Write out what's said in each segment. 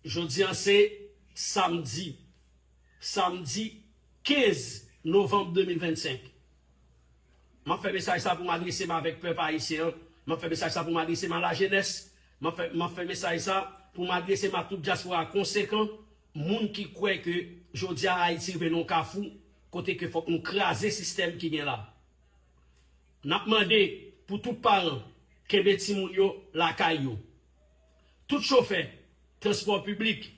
Jodi a se Samdi, Samdi 15 Novanm 2025. M ap fè mesaj sa pou m adrese m avèk pèp Ayisyen an, m ap fè mesaj sa pou m adrese m a la jenès, m ap fè m ap fè mesaj sa pou m adrese m a tout dyaspora konsekan, moun ki kwè ke jodi a Ayiti rive nan yon kafou kote ke fòk nou kraze sistèm ki gen la. N ap mande pou tout paran kenbe timoun yo lakay yo. Tout chofè transpò piblik,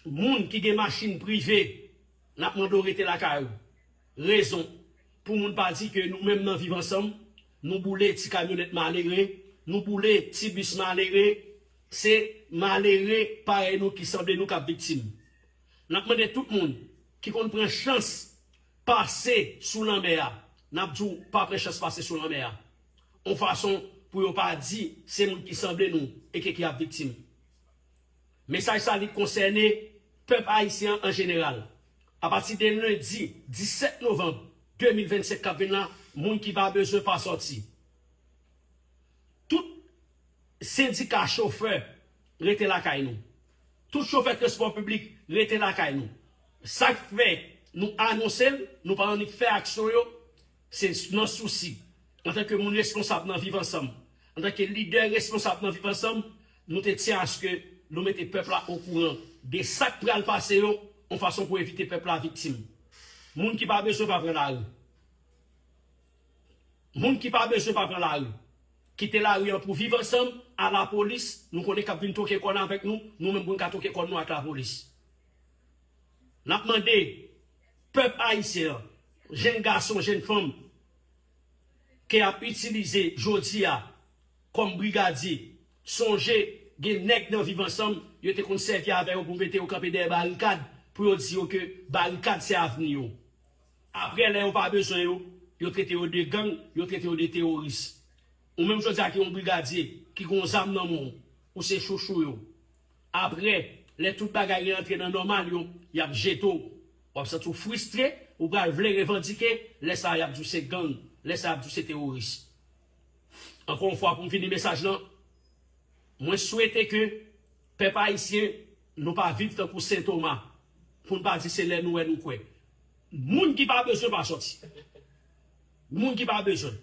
moun ki gen machin prive, n ap mande w rete lakay ou. Rezon, pou moun pa di ke nou menm nan Viv Ansanm, nou boule ti kamyonèt malere, nou boule ti bis malere, se malere parèy nou ki sanble nou k ap viktim. N ap mande tout moun ki konn pran chans pase sou lanmè a, n ap di w pa pran chans pase sou lanmè a. yon fason pou yo pa di se moun ki sanble nou eke ki ap viktim. Mesaj sa li konsène pèp ayisyen an an jeneral. Apati de lendi 17 novanm 2025 k ap vin la, moun ki pa bezwen pa sòti. Tout sendika chofè rete lakay nou. Tout chofè transpò piblik rete lakay nou. Sa k fè nou anonse l, nou pa annik fè aksyon yo, Se nan sousi, antanke moun reskonsab nan Viv Ansanm, antanke lidè reskonsab nan Viv Ansanm, nou te tyen aske nou mete pèp la okouran de sa k pral pase yo, yon fason pou evite pèp la viktim. Moun ki pa bezwen pa pran lari. Moun ki pa bezwen pa pran lari. Kite lari an pou Viv Ansanm, a lapolis, nou konnen k ap vin twoke kòn avèk nou, nou menm pou n ka twoke kòn nou ak lapolis. N ap mande Pèp Ayisyen an, jenn gason, jenn fanm ke yap itilize jodi a kòm brigadye, sonje gen nèg nan Viv Ansanm yo te konn sèvi avè yo pou mete yo kanpe dèyè barikad pou yo di yo ke barikad se avni yo. Aprè lè yo pa bezwen yo, yo trete yo de gang, yo trete yo de teworis. Ou menm jodi a ki yon brigadye, ki gen yon zam nan men w, ou se chouchou yo. Aprè, lè tout bagay reantre nan nòmal yo, y ap jete w. W ap santi w fristre, ou pral vle revandike, lè sa a y ap di w se gang, lè sa y ap di w se teworis. Ankò yon fwa pou m fini mesaj lan, mwen swete ke pèp ayisyen nou pa viv tankou Sen Toma, pou n pa di se lè nou wè nou kwè. Moun ki pa bezwen pa sòti. Moun ki pa bezwen.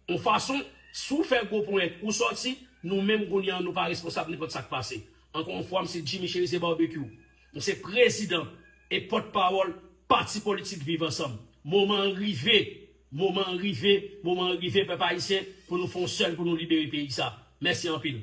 On fason, si w fè gwo ponyèt, ou sòti, nou menm kounye an nou pa responsab nenpòt sa k pase. Ankò on fwa m se Jimmy Cherizier Barbecue. M se prezidan e pòt pawòl pati politik Viv Ansanm. Moman an rive, moman an rive, moman an rive pèp ayisyen pou nou fè on sèl pou nou libere peyi sa. Mèsi anpil.